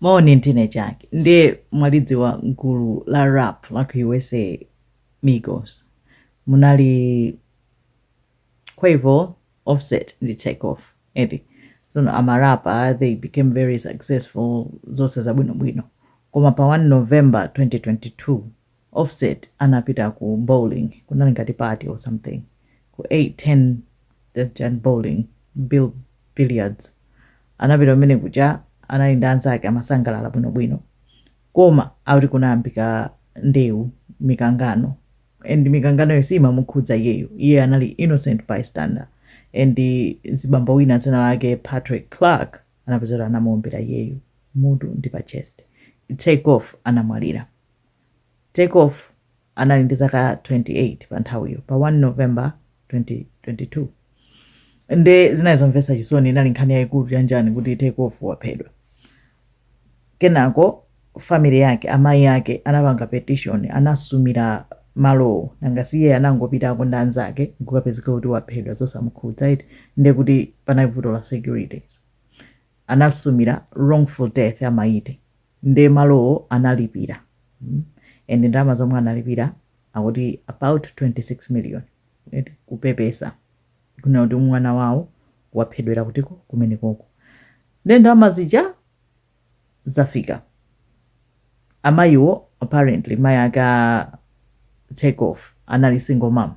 Moni ndine Jack nde mwalidziwa gulu la rap la ku usa migos munali quavo, offset ndi takeoff eti tsono ama rapper they became very successful zonse zabwinobwino koma pa 1 november 2022 offset anapita ku bowling kunali ngati party or something ku 810 chani bowling billiards anapita kumene kuja anali ndi anzake amasangalala bwino bwino koma akuti kunayambika ndewu mikangano and mikanganoyo siimamukhudza iyeyo iye anali innocent bystander and mzibambo wina dzina lake patrick clark anapezeka kuti anamuombera iyeyo m'mutu ndi pa chest take off anamwalira Takeoff anali ndi zaka 28 pa nthawiyo, pa 1 November 2022. Nde zinali zomvetsa chisoni, inali nkhani yaikulu chanjani kuti Takeoff waphedwa. Kenako family yake, amai ake anapanga petition, anasumira malowo, nanga si iyeyo anangopitako ndi anzake nkukapezeka kuti waphedwa zosamukhudza eti, nde kuti panali vuto la security. Anasumira wrongful death amayi eti. nde malowo analipira and ndalama zomwe analipira akuti about 26 million eti kupepesa kunena kuti mwana wawo waphedwera kuti ko kumenekoko nde ndalama zija zafika amayiwo apparently mayi ake a Takeoff anali single mom,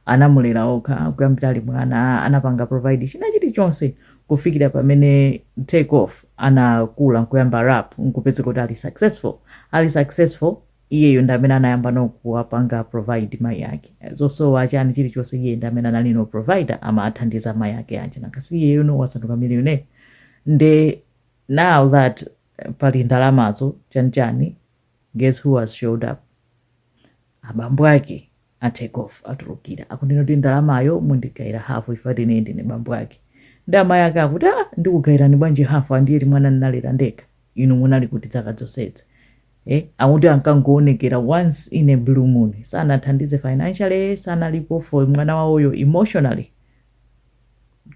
anamulera okha kuyambira ali mwana, anapanga provide china chili chonse kufikira pamene Takeoff anakula nkuyamba rap nkupezeka kuti ali successful, ali successful iyeyo ndi amene anayamba no kuwapanga provide mayi ake, zosowa chani chili chonse iye ndi amene anali no provider amawathandiza mayi ake aja, nanga si iyeyo no wasanduka millionaire nde now that pali ndalamazo chani chani. guess who has showed up abambo ake a take off atulukira akunena kuti ndalamayo mundigaira hafu ife eti ndine bambo ake ndi amayi ake akuti a ndikugairani bwanji hafu andiye ti mwana ndinalera ndekha inu munali kuti dzaka dzonsedza eh, akuti ankangoonekera once in a blue moon sanathandize financially sanalipo for mwana wawoyo emotionally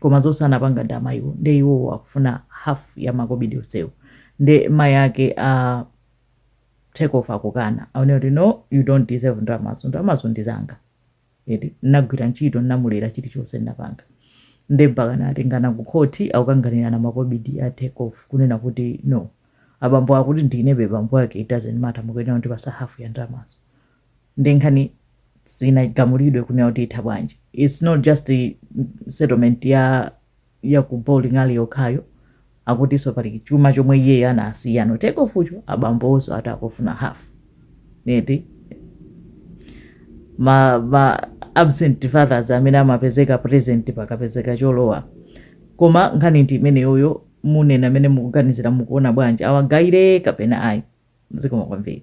koma zose anapanga ndi amayiwo nde iwowo akufuna half ya makobidi osewo nde mayi ake a take off akukana akunena kuti no you don't deserve ndalamazo ndalamazo ndi zanga eti nagwira ntchito namulera chilichonse napanga nde mpaka anatengana ku khoti akukanganirana makobidi a take off kunena kuti no abambo akuti ndinebe bambo ake it doesn't matter mukuyenera kutipatsa half ya ndalamazo nde nkhani sinagamulidwe kunena kuti itha bwanji it's not just settlement ya ya ku bowling alley yokhayo akutinso pali chuma chomwe iyeyo anasiya no Takeoff cho abambonso akuti akufuna half neti ma, ma absent fathers amene amapezeka present pakapezeka cholowa koma nkhani ndi imeneyoyo munena amene mukuganizira mukuona bwanji awagayire kapena ayi zikomo kwambiri